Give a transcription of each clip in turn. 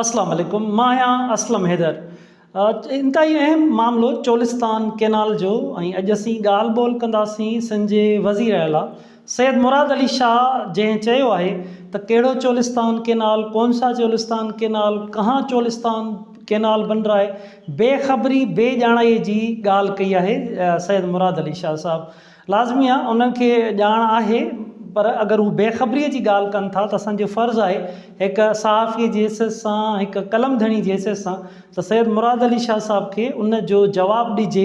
اسلام عليڪم مان آهيان اسلم حيدر انتهائي اهم معاملو چولستان ڪينال جو ۽ اڄ اسين ڳالهه ٻولهه ڪنداسين سنڌ جي وزير اعليٰ سيد مراد علي شاهه جنهن چيو آهي ته ڪهڙو چولستان ڪينال ڪون سا چولستان ڪينال ڪهان چولستان ڪينال بن رها هي بي خبري بي ڄاڻائي جي ڳالهه ڪئي آهي سيد مراد علي شاهه صاحب لازمي آهي انهن کي ڄاڻ آهي پر اگر هو بي خبريء جي ڳالهه ڪن ٿا ته اسان جو فرض آهي هڪ صحافيء جي حيثيت سان هڪ قلم ڌڻي جي حيثيت سان ته سيد مراد علي شاهه صاحب کي ان جو جواب ڏجي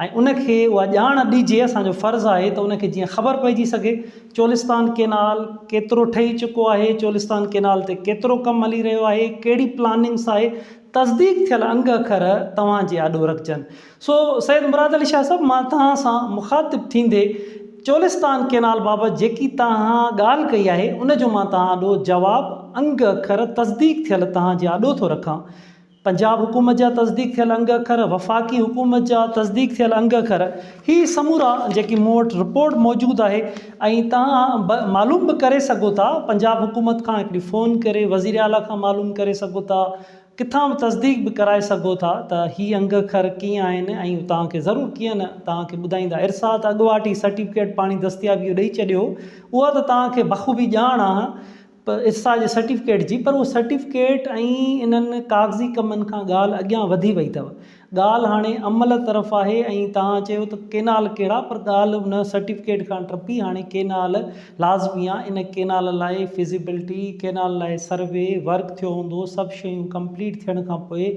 ۽ ان کي اها ڄاڻ ڏجي اسان جو فرض آهي ته ان کي جيئن خبر پئجي سگهي چولستان ڪينال ڪيترو ٺهي چڪو آهي چولستان ڪينال تي ڪيترو ڪم هلي رهيو آهي ڪهڙي پلاننگس آهي تصديق ٿيل انگ اکر توهان جي آڏو رکجن. سو سيد مراد علي شاهه صاحب مان توهان سان مخاطب ٿيندي چولستان ڪينال بابت جيڪي توهان ڳالهه ڪئي آهي ان جو مان توهان آڏو جواب انگ اکر تصديق ٿيل توهان جي آڏو ٿو رکان. پنجاب حڪومت جا تصديق ٿيل انگ اکر، وفاقي حڪومت جا تصديق ٿيل انگ اکر هي سمورا جيڪي مون وٽ رپورٽ موجود آهي ۽ توهان معلوم به ڪري سگهو ٿا پنجاب حڪومت کان هڪڙي فون ڪري وزيراعليٰ کان معلوم ڪري سگهو ٿا، ڪٿان تصديق به ڪرائي سگهو ٿا ته هي انگ اکر ڪيئن آهن ۽ توهان کي ضرور ڪيئن نه توهان کي ٻڌائيندا ارسا ته اڳواٽ ئي سرٽيفڪيٽ پاڻي دستيابي جو ڏئي ڇڏيو هو اها ته توهان کي بخوبي ڄاڻ آهي ارسا جي سرٽيفڪيٽ جي پر اهو سرٽيفڪيٽ ۽ انهن ڪاغذي ڪمن کان ڳالهه اڳيان وڌي وئي اٿو ڳالهه هاڻي عمل طرف آهي ۽ توهان چيو ته ڪينال ڪهڙا پر ڳالهه ان سرٽيفڪيٽ کان ٽپي هاڻي ڪينال لازمي آهي ان ڪينال لاء فزيبلٽي ڪينال لاء سروي ورڪ ٿيو هوندو سڀ شيون ڪمپليٽ ٿيڻ کان پوء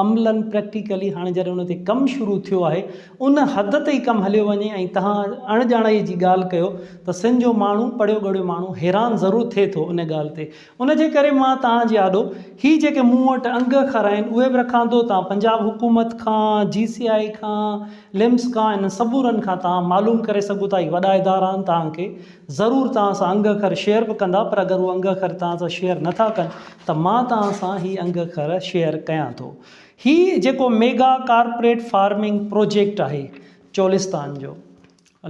عملا پريڪٽيڪلي هاڻي جڏهن ان تي ڪم شروع ٿيو آهي ان حد تي ئي ڪم هليو وڃي ۽ توهان اڻڄاڻائي جي ڳالهه ڪيو ته سن جو ماڻهو پڙهيو ڳڙهيو ماڻهو حيران ضرور ٿئي ٿو ان ڳالهه تي ان جي ڪري مان توهان جي آڏو هي جيڪي مون وٽ انگ اکر آهن اهي به رکان ٿو. توهان پنجاب حڪومت کان، جي سي آء کان، لمس کان انهن سمورن کان توهان معلوم ڪري سگهو ٿا. هي وڏا ادارا آهن توهان کي ضرور توهان سان انگ اکر شيئر به ڪندا پر اگر هو انگ اکر توهان سان شيئر نه ٿا ڪن ته مان توهان سان هي انگ اکر شيئر ڪيان ٿو. هي جيڪو ميگا ڪارپوريٽ فارمنگ پروجيڪٽ آهي چولستان جو.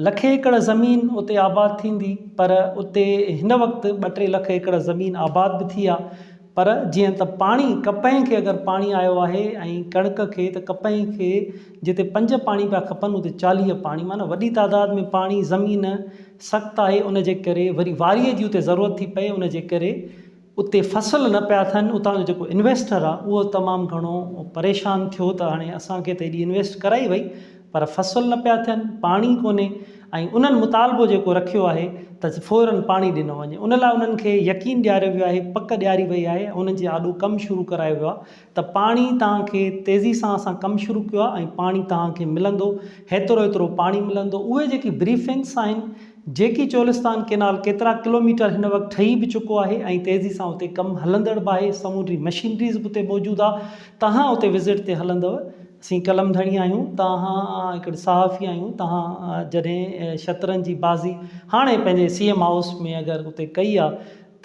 لک ايڪڙ زمين اتي آباد ٿيندي پر اتي هن وقت ٻه ٽي لک ايڪڙ زمين آباد به ٿي آهي پر جيئن ته پاڻي ڪپهه کي اگر پاڻي آيو آهي ۽ ڪڻڪ کي ته ڪپهه کي جتي پنج پاڻي پيا کپن اتي چاليهه پاڻي معنيٰ وڏي تعداد ۾ پاڻي زمين سخت آهي ان جي ڪري وري واريء جي اتي ضرورت ٿي پئي ان جي ڪري اتي فصل نه پيا ٿين اتان جو جيڪو انويسٽر آ اهو تمام گهڻو پريشان ٿيو ته هاڻي اسان کي ته ايڏي انويسٽ ڪرائي وئي پر فصل نه پيا ٿين پاڻي ڪونهي ۽ انهن مطالبو جيڪو رکيو آهي ته فورن پاڻي ڏنو وڃي ان لاء انهن کي يقين ڏياريو ويو آهي پڪ ڏياري وئي آهي انهن جي آڏو ڪم شروع ڪرايو ويو آهي ته پاڻي توهان کي تيزي سان اسان ڪم شروع ڪيو آهي ۽ پاڻي توهان کي ملندو هيترو هيترو پاڻي ملندو اهي جيڪي بريفنگس آهن جيڪي چولستان ڪينال ڪيترا ڪلوميٽر هن وقت ٺهي به چڪو آهي ۽ تيزي سان اتي ڪم هلندڙ به آهي سمونڊي مشينريز به اتي موجود آ توهان اتي وزٽ تي هلندو اسين قلم ڌڻي آهيون توهان هڪڙي صحافي آهيون توهان جڏهن شطرنج جي بازي هاڻي پنهنجي سي ايم هائوس ۾ اگر اتي ڪئي آ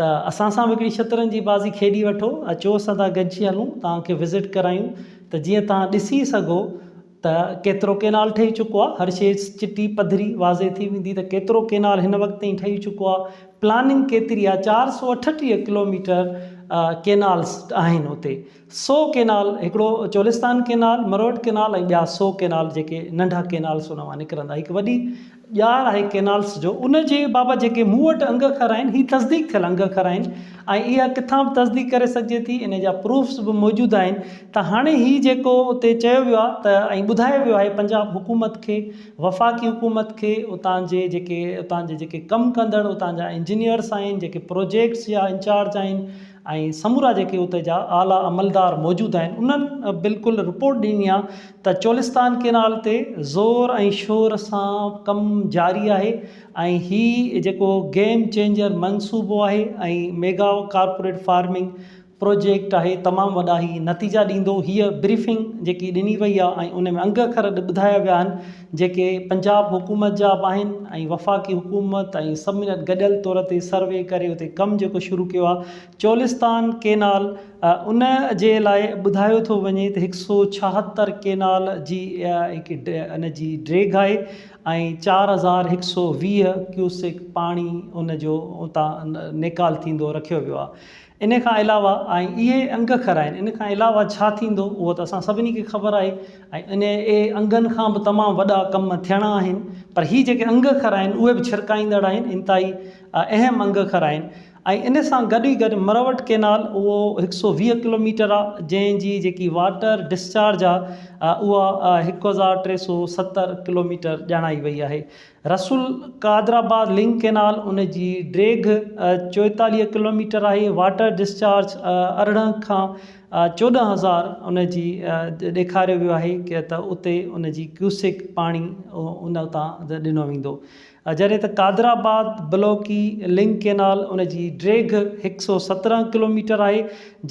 ته اسان سان به هڪڙي شطرنج جي بازي کيڏي وٺو اچو اسان سان گڏجي هلون توهان کي وزٽ ڪرايون ته جيئن توهان ڏسي سگهو ته ڪيترو ڪينال ٺهي چڪو آهي هر شيء چٽي پڌري واضح ٿي ويندي ته ڪيترو ڪينال هن وقت تائين ٺهي چڪو آهي پلاننگ ڪيتري آهي چار سؤ اٺٽيهه ڪلوميٽر ڪينالز آهن اتي سو ڪينال هڪڙو چولستان ڪينال مروٽ ڪينال ۽ ٻيا سو ڪينال جيڪي ننڍا ڪينالز ان مان نڪرندا هڪ وڏي ڄار آهي ڪينالس جو ان جي بابت جيڪي مون وٽ انگ اکر آهن هي تصديق ٿيل انگ اکر آهن ۽ اها ڪٿان به تصديق ڪري سگهجي ٿي ان جا پروفس به موجود آهن ته هاڻي هي جيڪو اتي چيو ويو آهي ته ۽ ٻڌايو ويو آهي پنجاب حڪومت کي وفاقي حڪومت کي اتان جي جيڪي اتان جي جيڪي ڪم ڪندڙ اتان جا انجنيئرس آهن جيڪي پروجيڪٽس جا انچارج آهن ۽ سمورا جيڪي اتي جا اعليٰ عملدار موجود آهن انهن بلڪل رپورٽ ڏني آهي ته چولستان ڪينال تي زور ۽ شور سان ڪم جاري آهي ۽ هي جيڪو گيم چينجر منصوبو آهي ۽ ميگا ڪارپوريٽ فارمنگ پروجيڪٽ آهي تمام وڏا هي نتيجا ڏيندو هيء بريفنگ جيڪي ڏني وئي آهي ۽ ان ۾ انگ اکر ٻڌايا ويا آهن جيڪي پنجاب حڪومت جا به آهن ۽ وفاقي حڪومت ۽ سڀني گڏ گڏيل طور تي سروي ڪري اتي ڪم جيڪو شروع ڪيو آهي چولستان ڪينال ان جي لاء ٻڌايو ٿو وڃي ته هڪ سؤ ڇاهتر ڪينال جي هڪ ان جي ڊيگهه آهي ۽ چار هزار هڪ سؤ ويهه ڪيوسڪ پاڻي ان جو اتان نيڪال ٿيندو رکيو ويو آهي ان کان علاوه ۽ اهي انگ کر آهن ان کان علاوه ڇا ٿيندو اهو ته اسان سڀني کي خبر آهي ۽ انهي انگن کان به تمام وڏا ڪم ٿيڻا آهن پر هي جيڪي انگ کر آهن اهي به ڇرڪائيندڙ آهن انتهائي اهم انگ کر آهن ۽ ان سان گڏ ئي گڏ مروٽ ڪينال اهو هڪ سؤ ويهه ڪلوميٽر آ جنهن جي جيڪي واٽر ڊسچارج آ اها هڪ هزار ٽي سؤ ستر ڪلوميٽر ڄاڻائي وئي آهي رسول قادرآباد لنڪ ڪينال ان جي ڊيگهه چوئيتاليهه ڪلوميٽر آهي، واٽر ڊسچارج ارڙهن کان چوڏهن هزار ان جي ڏيکاريو ويو آهي ته اتي ان جي ڪيوسڪ پاڻي ان اتان ڏنو ويندو جڏهن ته قادرآباد بلوڪي لنڪ ڪينال ان جي ڊيگهه هڪ سؤ سترهن ڪلوميٽر آهي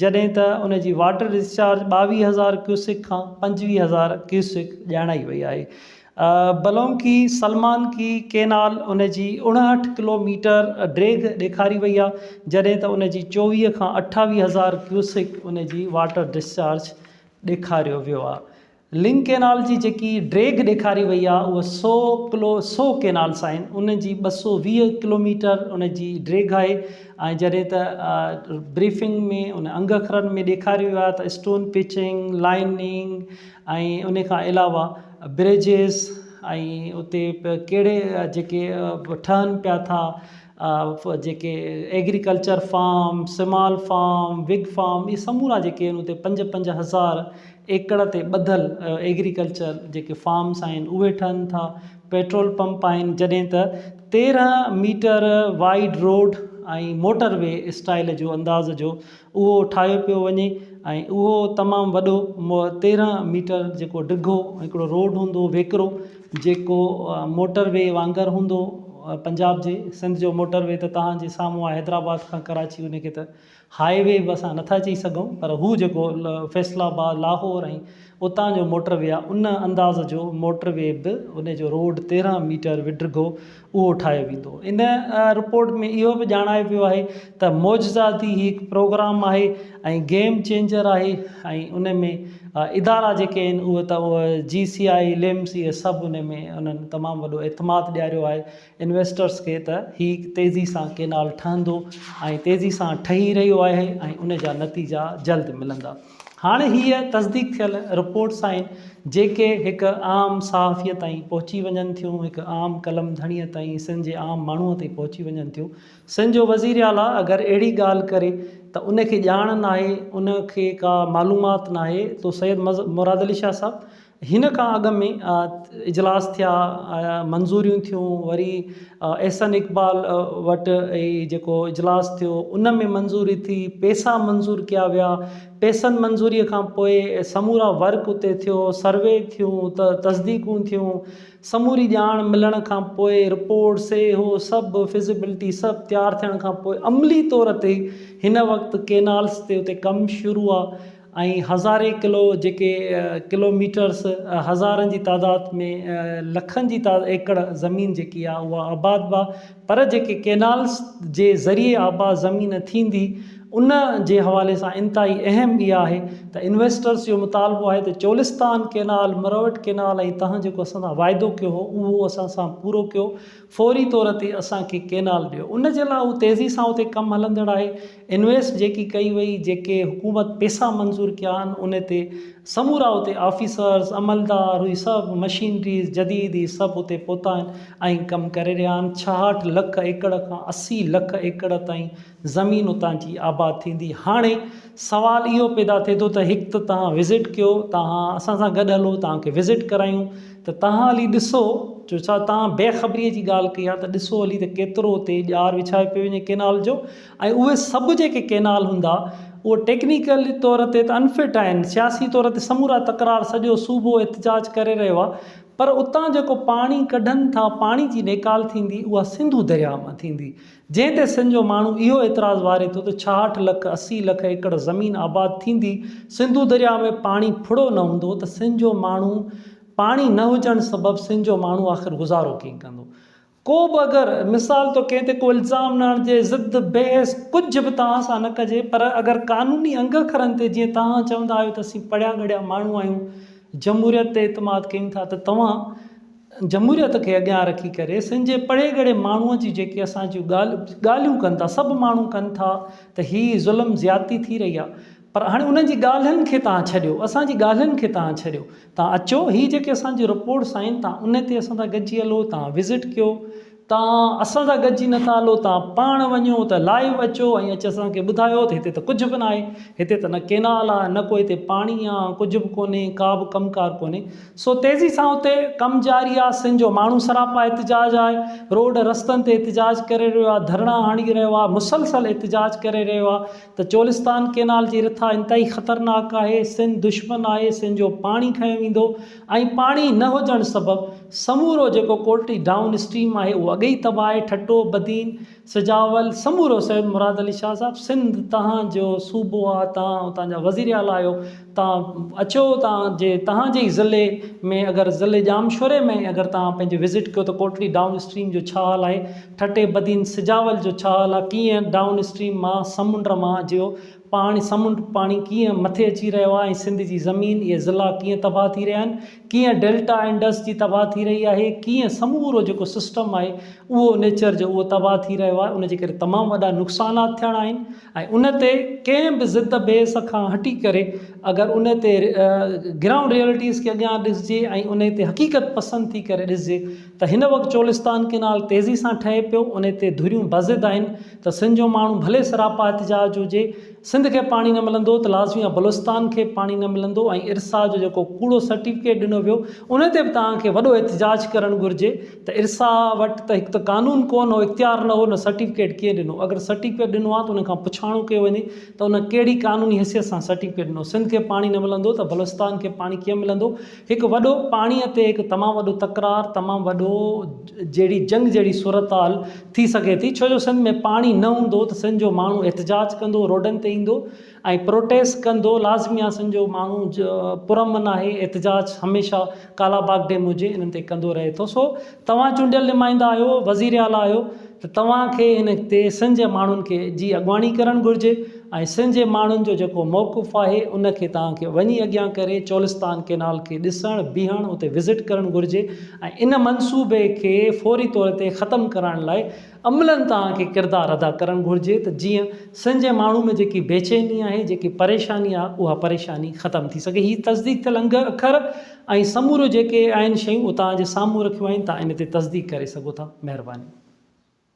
جڏهن ته ان جي واٽر ڊسچارج ٻاويهه هزار ڪيوسڪ کان پنجويهه هزار ڪيوسڪ ڄاڻائي وئي آهي بلونڪي سلمانڪي ڪينال ان جي اڻهٺ ڪلوميٽر ڊيگهه ڏيکاري وئي آهي جڏهن ته ان جي چوويهه کان اٺاويهه هزار ڪيوسڪ ان جي واٽر ڊسچارج ڏيکاريو ويو آهي لنڪ ڪينال جي جيڪي ڊيگهه ڏيکاري وئي آهي اهو سو ڪلو سو ڪينالس آهن ان جي ٻه سو ويهه ڪلوميٽر ان جي ڊيگهه آهي ۽ جڏهن ته بريفنگ ۾ ان انگ اکرن ۾ ڏيکاريو ويو آهي ته اسٽون پچنگ لائننگ ۽ ان کان علاوه بريجز ۽ اتي ڪهڙي جيڪي ٺهن پيا ٿا جيڪي agriculture farm small farm big farm اهي سمورا جيڪي آهن اتي پنج پنج هزار ايڪڙ تي ٻڌل ايگريڪلچر جيڪي فارمس آهن اهي ٺهن ٿا پيٽرول پمپ آهن جڏهن ته تيرهن metre wide road ۽ motorway style جو انداز جو اهو ٺاهيو پيو وڃي ۽ اهو تمام وڏو تيرهن ميٽر جيڪو ڊگهو هڪڙو روڊ هوندو ويڪرو جيڪو موٽر وي وانگر هوندو پنجاب جي سنڌ جو موٽر وي ته توهان جي سامهون آهي حيدرآباد کان ڪراچي ان کي ته هاء وي به اسان نٿا چئي سگهون پر هو جيڪو فيصل آباد لاهور ۽ اتان جو موٽر وي آهي ان انداز جو موٽر وي به ان جو روڊ تيرهن ميٽر وڊگهو اهو ٺاهيو ويندو. ان رپورٽ ۾ اهو به ڄاڻايو ويو آهي ته معجزه ٿي هي هڪ پروگرام آهي ۽ گيم چينجر آهي ۽ ان ۾ ادارا جيڪي آهن اهي ته اهي جي سي آء ليمز اهي سڀ ان ۾ انهن تمام وڏو اعتماد ڏياريو آهي انويسٽرز کي ته هي تيزي سان ڪينال ٺهندو ۽ تيزي سان ٺهي رهيو آهي ۽ ان جا نتيجا جلد ملندا. هاڻ هيء تصديق ٿيل رپورٽس آهن، جيڪي هڪ عام صحافيء تائين پهچي وڃن ٿيون، هڪ عام قلم ڌڻيء تائين، سنڌ جي عام ماڻهوء تائين پهچي وڃن ٿيون. سنڌ جو وزير اعليٰ اگر اهڙي ڳالهه ڪري ته ان کي ڄاڻ ناهي، ان کي ڪا معلومات ناهي، تو سيد مراد علي شاهه صاحب هن کان اڳ ۾ اجلاس ٿيا، منظوريون ٿيون، وري احسن اقبال وٽ جيڪو اجلاس ٿيو ان ۾ منظوري ٿي، پئسا منظور ڪيا ويا، پئسن منظوري کان پوء سمورا ورڪ اتي ٿيو، سروي ٿيون، تصديقون ٿيون، سموري ڄاڻ ملڻ کان پوء رپورٽ سي هو سڀ فزيبلٽي سڀ تيار ٿيڻ کان پوء عملي طور تي هن وقت ڪينالز تي اتي ڪم شروع آ. ۽ هزارين ڪلو جيڪي ڪلو ميٽرس هزارن جي تعداد ۾ لکن جي ايڪڙ زمين جيڪي آ اها آباد با پر جيڪي ڪينالس جي ذريعي آباد زمين ٿيندي ان جي حوالي سان انتهائي اهم اها آهي ته انويسٽرس جو مطالبو آهي ته چولستان ڪينال مروٽ ڪينال ۽ تهان جيڪو اسان سان واعدو ڪيو هو اهو اسان سان پورو ڪيو فوري طور تي اسان کي ڪينال ڏيو ان جي لاء هو تيزي سان اتي ڪم هلندڙ آهي انويسٽ جيڪي ڪئي وئي، جيڪي حڪومت پيسا منظور ڪيا آهن ان تي سمورا اتي آفيسرز، عملدار هي سڀ مشينريز جديد هي سڀ اتي پهتا آهن ۽ ڪم ڪري رهيا آهن ڇاهٺ لک ايڪڙ کان اسي لک ايڪڙ تائين زمين اتان جي آباد ٿيندي هاڻي سوال اهو پيدا ٿئي ٿو ته هڪ ته توهان وزٽ ڪيو توهان اسان سان گڏ هلو توهان کي وزٽ ڪرايون ته توهان هلي ڏسو جو ڇا توهان بي خبري جي ڳالهه ڪئي آهي ته ڏسو هلي ته ڪيترو اتي ڄار وڇايو پيو وڃي ڪينال جو ۽ اهي سڀ جيڪي ڪينال هوندا اهي ٽيڪنيڪل طور تي ته انفٽ آهن، سياسي طور تي سمورا تڪرار سڄو صوبو احتجاج ڪري رهيو آهي پر اتان جيڪو پاڻي ڪڍن ٿا پاڻي جي نيڪال ٿيندي اها سنڌو درياء مان ٿيندي جنهن تي سن جو ماڻهو اهو اعتراض واري ٿو ته ڇاهٺ لک اسي لک ايڪڙ زمين آباد ٿيندي سنڌو درياء ۾ پاڻي ڦڙو نه هوندو ته سن جو ماڻهو پاڻي نه هجڻ سبب سن جو ماڻهو آخر گذارو ڪئين ڪندو ڪو به اگر مثال طور ڪنهن تي ڪو الزام نه هڻجي، ضد، بحث ڪجهه به توهان سان نه ڪجي پر اگر قانوني انگ اکرن تي جيئن توهان چوندا آهيو ته اسين پڙهيا ڳڙهيا ماڻهو آهيون، جمهوريت تي اعتماد ڪيون ٿا ته توهان جمهوريت کي اڳيان رکي ڪري سنڌ جي پڙهي ڳڙهي ماڻهو جي جيڪي اسان جون ڳالهيون ڪن ٿا سڀ ماڻهو ڪن ٿا ته هي ظلم زيادتي ٿي رهي آهي. پر هاڻي انهن جي ڳالهين کي تان ڇڏيو، اسان جي ڳالهين کي تان ڇڏيو. تان اچو، هي جيڪي اسان جي رپورٽس آهن، تان انهي تي اسان سان گڏجي هلو، تان وزٽ ڪيو. تان اسان سان گڏجي نٿا هلو، تان پاڻ وڃو ته لائيو اچو ۽ اچي اسان کي ٻڌايو ته هتي ته ڪجهه به ناهي. هتي ته نه ڪينال آهي، نه ڪو هتي پاڻي آهي، ڪجهه به ڪونهي، ڪا به ڪم ڪار ڪونهي. سو تيزي سان اتي ڪم جاري آهي، سنڌ جو ماڻهو سراپا احتجاج آهي، روڊ رستن تي احتجاج ڪري رهيو آهي، ڌرڻا هڻي رهيو آهي، مسلسل احتجاج ڪري رهيو آهي. ته چولستان ڪينال جي رٿا انتهائي خطرناڪ آهي، سن دشمن آهي، سن جو پاڻي کنيو ويندو ۽ پاڻي نه هجڻ سبب سمورو جيڪو ڪوٽڙي ڊائون اسٽريم آهي اهو اڳي ئي تباهه آهي، ٺٽو، بدين، سجاول، سمورو سيد مراد علي شاهه صاحب سنڌ تهان جو صوبو آ، تهان اتان جا وزيراعليٰ آهيو، تان اچو تان جي تهان جي ئي ضلعي ۾ اگر ضلعي ڄامشوري ۾ اگر تان پنهنجي وزٽ ڪيو ته ڪوٽڙي ڊائون اسٽريم جو ڇا حال آهي ٺٽي بدين سجاول جو ڇا حال آهي ڪيئن ڊائون اسٽريم مان سمنڊ مان جيو پاڻي سمنڊ پاڻي ڪيئن مٿي اچي رهيو آهي ۽ سنڌ جي زمين اهي ضلعا ڪيئن تباهه ٿي رهيا آهن ڪيئن ڊيلٽا انڊس جي تباهه ٿي رهي آهي ڪيئن سمورو جيڪو سسٽم آهي اهو نيچر جو اهو تباهه ٿي رهيو آهي ان جي ڪري تمام وڏا نقصانات ٿيڻا آهن ۽ ان تي ڪنهن به ضد بحث کان هٽي ڪري اگر ان تي گرائونڊ ريئلٽيز کي اڳيان ڏسجي ۽ ان تي حقيقت پسند ٿي ڪري ڏسجي ته هن وقت چولستان ڪئنال تيزي سان ٺهي پيو ان تي ڌريون بضد آهن ته سنڌ جو ماڻهو ڀلي سراپا احتجاج هجي سنڌ کي پاڻي نه ملندو ته لازمي آهي بلوچستان کي به پاڻي نه ملندو ۽ ارسا جو جيڪو ڪوڙو سرٽيفڪيٽ ڏنو ويو ان تي به توهان کي وڏو احتجاج ڪرڻ گهرجي. ته ارسا وٽ ته هڪ ته قانون ڪو نه هو، اختيار نه هو، نه سرٽيفڪيٽ ڪنهن ڏنو، اگر سرٽيفڪيٽ ڏنو ها ته ان کان پڇاڻو ڪيو وڃي ته ان ڪهڙي قانوني حيثيت سان سرٽيفڪيٽ ڏنو، سنڌ کي پاڻي نه ملندو ته بلوچستان کي پاڻي ڪيئن ملندو، هڪ وڏو پاڻيء تي هڪ تمام وڏو تڪرار، تمام وڏو جهڙي جنگ جهڙي صورتحال ٿي سگهي ٿي، ڇو جو سنڌ ۾ پاڻي نه هوندو ته سنڌ جو ماڻهو احتجاج ڪندو، روڊن تي ايندو، ۽ پروٽيسٽ ڪندو لازمي آ سنڌ جو ماڻهو پرامن آهي احتجاج هميشه ڪالا باغ ڊيم هجي انهن تي ڪندو رهي ٿو سو توهان چونڊيل نمائندا آهيو وزير اعليٰ آهيو ته توهان کي هن تي سنڌ جي ماڻهن کي جي اڳواڻي ڪرڻ گهرجي ۽ سنڌ جي ماڻهن جو جيڪو موقف آهي ان کي توهان کي وڃي اڳيان ڪري چولستان ڪينال کي ڏسڻ بيهڻ اتي وزٽ ڪرڻ گهرجي ۽ ان منصوبي کي فوري طور تي ختم ڪرائڻ لاء عملن توهان کي ڪردار ادا ڪرڻ گهرجي ته جيئن سنڌ جي ماڻهو ۾ جيڪي بيچيني آهي، جيڪي پريشاني آهي اها پريشاني ختم ٿي سگهي. هي تصديق ٿيل انگ اکر ۽ سموريون جيڪي آهن شيون اتان جي سامهون رکيون آهن، توهان ان تي تصديق ڪري سگهو ٿا. مهرباني.